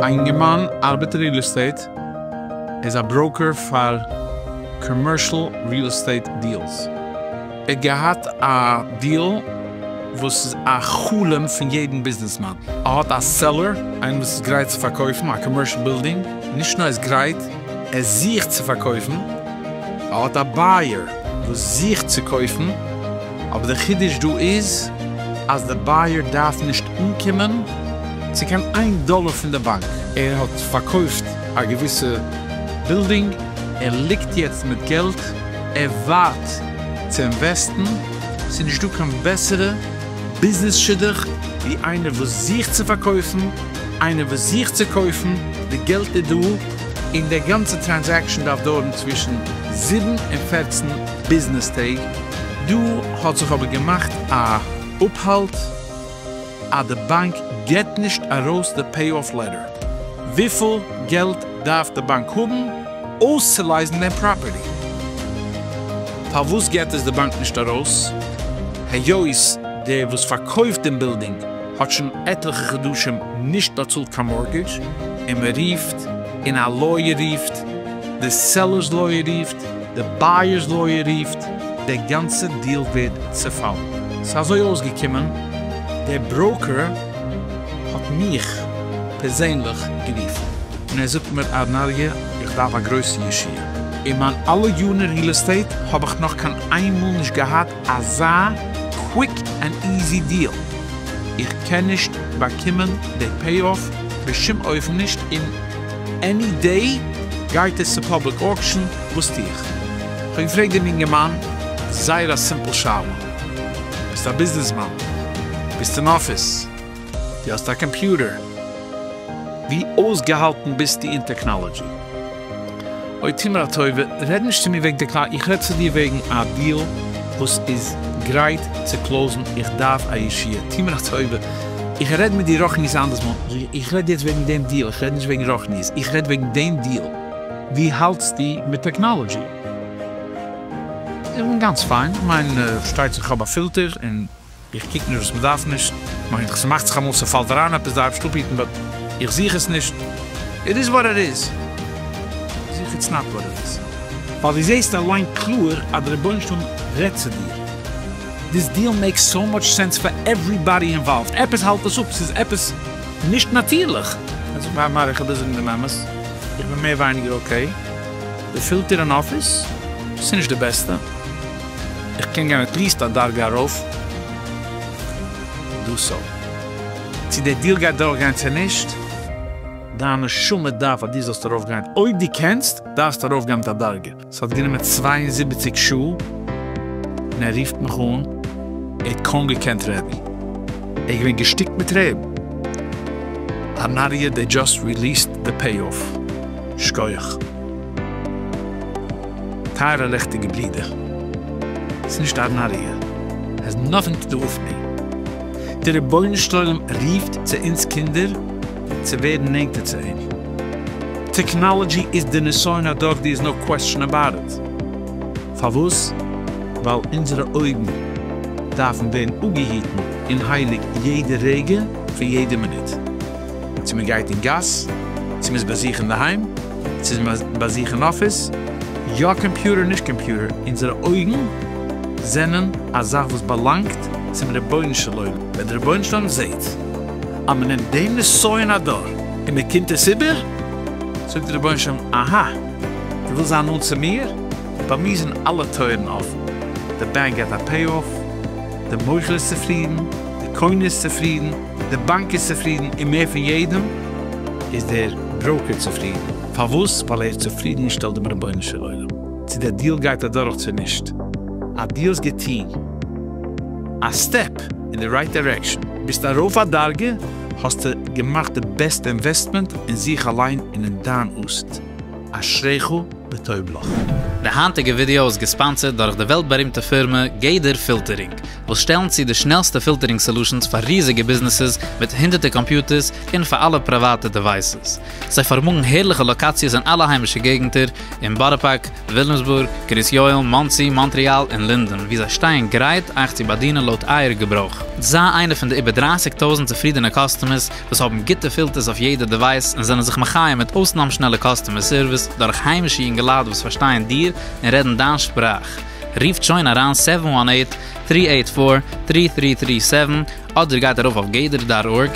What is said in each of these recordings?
א אינגערמאן ארבעט ריעל עסטעיט, ער איז א בראוקער פאר קאמערשל ריעל עסטעיט דיעלס, ער האט געהאט א דיעל וואס איז א חלום פון יעדן ביזנעסמאן, ער האט א סעלער, איינער וואס איז גרייט צו פארקויפן א קאמערשל בילדינג, נישט נאר ער איז גרייט, ער זוכט צו פארקויפן, ער האט א בייער וואס זוכט צו קויפן, אבער די חידוש דא איז אז די בייער דארף נישט אנקומען צו קיין איין דאלער פון די באנק. ער האט פארקויפט א געוויסע בילדינג, ער ליגט יעצט מיט געלט, ער ווארט צו אינוועסטן, ס'איז נישט דא קיין בעסערע ביזנעס שידוך ווי איינער וואס זוכט צו פארקויפן, איינער וואס זוכט צו קויפן, די געלט איז דא, און די גאנצע טרענזעקשן דארף דויערן צווישן זיבן און פֿערצן ביזנעס טעג, דא האט זיך אבער געמאכט א אפהאלט אז די באנק געט נישט ארויס די פעי אף לעטער, וויפיל געלט דארף די באנק האבן אויסצולייזן דעם פראפערטי? פארוואס געט עס די באנק נישט ארויס היות דער וואס פארקויפט דעם בילדינג האט שוין עטליכע חדשים נישט באצאלט קיין מארטגעדזש, און מען רופט און א לויער רופט, די סעלערס לויער רופט, די בייערס לויער רופט, דער גאנצע דיעל ווערט צעפאלן. ס'איז אזוי אויסגעקומען, דער בראוקער האט מיך פערזענליך גערופן, און ער זאגט מיר ארנאריע איך דארף א גרויסע ישועה, אין מיין אלע יארן אין ריעל עסטעיט האב איך נאך קיין איינמאל נישט געהאט אזא קוויק ענד איזי דיעל, איך קען נישט באקומען די פעי אף בשום אופן נישט און עני דעי גייט עס צו פאבליק אוקשען, וואס טו איך? כ'האב געפרעגט דעם יונגערמאן זייער א סימפל שאלה, ביסט א ביזנעסמאן? ביסט אין אפיס? די האסט א קאמפיוטער? ווי אויסגעהאלטן ביסטו אין טעקנאלעדזשי? אוי טו מיר א טובה רעד נישט צו מיר וועגן טעקנאלעדזשי איך רעד צו דיר וועגן א דיעל וואס איז גרייט צו קלאוזן איך דארף א ישועה טו מיר א טובה איך רעד מיט דיר רוחנית אנדערס מאל איך רעד יעצט וועגן דעם דיעל איך רעד נישט וועגן רוחניות איך רעד וועגן דעם דיעל. ווי האלטסטו מיט טעקנאלעדזשי? איך בין גאנץ פיין, כ'מיין שטייצעך כ'האב א פילטער און. איך קוק נישט וואס מ'דארף נישט, מיין ס'מאכט זיך אמאל ס'פאלט אריין עפעס דארפסט אפהיטן באט איך זוך עס נישט, איט איז וואט איט איז, איך זוך איטס נאט וואט איט איז, ווייל דו זעהסט אליין קלאר אז די רבונו של עולם רעדט צו דיר, דיס דיעל מעיקס סאו מאטש סענס פאר עוועריבאדי אינוואלווד, עפעס האלט עס אפ, ס'איז עפעס נישט נאטירליך. זאג מר מר איך וויל זאגן דעם אמת, איך בין מער ווייניגער אקעי, די פילטער אין אפיס ס'נישט די בעסטע, איך קען גיין עטליעסט א דרגה ארויף דא סא צו דער דיל גייט דורכגיין צו נישט. דיין נשמה דארף אז דו זאלסט ארויפגיין, אויב דו קענסט דארפסטו ארויפגיין מיט א דרגה, ס'האט גענומען צוויי און זיבעציק שעה און ער רופט מיך אן, ער האט קוים געקענט רעדן, ער איז געווען געשטיקט מיט טרערן, הנריה דעי דזשאסט ריליעסד די פעי אף, שקויעך. טייערע לעכטיגע ברידער, ס'איז נישט א נאריע, העז נאטינג טו דו וויט מי, די רבונו של עולם רופט צו אונז קינדער צו ווערן נענטער צו אים, טעקנאלעדזשי איז די נסיון הדור דער איז נאו קוועסטשען אבאוט איט, פארוואס? ווייל אונזערע אויגן דארפן ווערן אפגעהיטן און הייליג יעדע רגע פון יעדע מינוט. צו מען גייט אין גאס, צו מען איז ביי זיך אינדערהיים, צו איז מען ביי זיך אין אפיס, יא קאמפיוטער נישט קאמפיוטער, אונזערע אויגן זענען א זאך וואס באלאנגט צום רבונו של עולם, ווען דער רבונו של עולם זעט אז מען נעמט דעם נסיון הדור און מען קומט עס איבער, זאגט דער רבונו של עולם, אהא, דו ווילסט זיין נאנט צו מיר? ביי מיר זענען אלע טויערן אפן, די בענק געט א פעי-אף, די מוכר איז צופרידן, די קונה איז צופרידן, די באנק איז צופרידן און מער פון יעדעם איז דער בראוקער צופרידן. פארוואס? ווייל ער איז צופרידן און שטעלט דעם רבונו של עולם צו דער דיעל גייט אדורך צו נישט. א דיעל איז געטוהן. א סטעפ אין די רייט דירעקשאן. ביסט ארויף א דרגה, האסטו געמאכט די בעסטע אינוועסטמענט אין זיך אליין און אין דיין עתיד. אשריך וטוב לך. די היינטיגע ווידעא איז געספאנסערד דורך די וועלט בארימטע פירמע גדר פילטערינג, וואס שטעלן צו די שנעלסטע פילטערינג סעלושענס פאר ריזיגע ביזנעסעס מיט הונדערטער קאמפיוטערס און פאר אלע פריוואטע דעווייסעס. זיי פארמאגן הערליכע לאקאציעס אין אלע היימישע געגנטער, אין בארא פארק, וויליאמסבורג, קרית יואל, מאנסי, מאנטריאל און לינדען, וואו זיי שטייען גרייט אייך צו באדינען לויט אייער געברויך. זיי איינע פון די איבער דרײַסיק טויזנט צופרידענע קאסטומערס וואס האבן גוטע פילטערס אויף יעדע דעווייס און זענען זיך מחיה מיט אויסנאם שנעלע קאסטומער סערוויס דורך היימישע יונגעלייט וואס פארשטייען דיר און רעדן דיין שפראך. רופט שוין אריין סעווען וואן עיט, טרי עיט פאר, טרי טרי טרי סעווען, אדער גייט ארויף אויף גדר דאט ארג,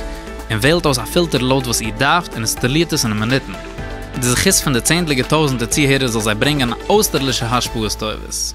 און וועלט אויס א פילטער לויט וואס איר דארפט און אינסטאלירט עס אין מינוטן. די זכות פון די צענדליגע טויזנטער צוהערער זאל זיי ברענגען אויסטערלישע השפעות טובות.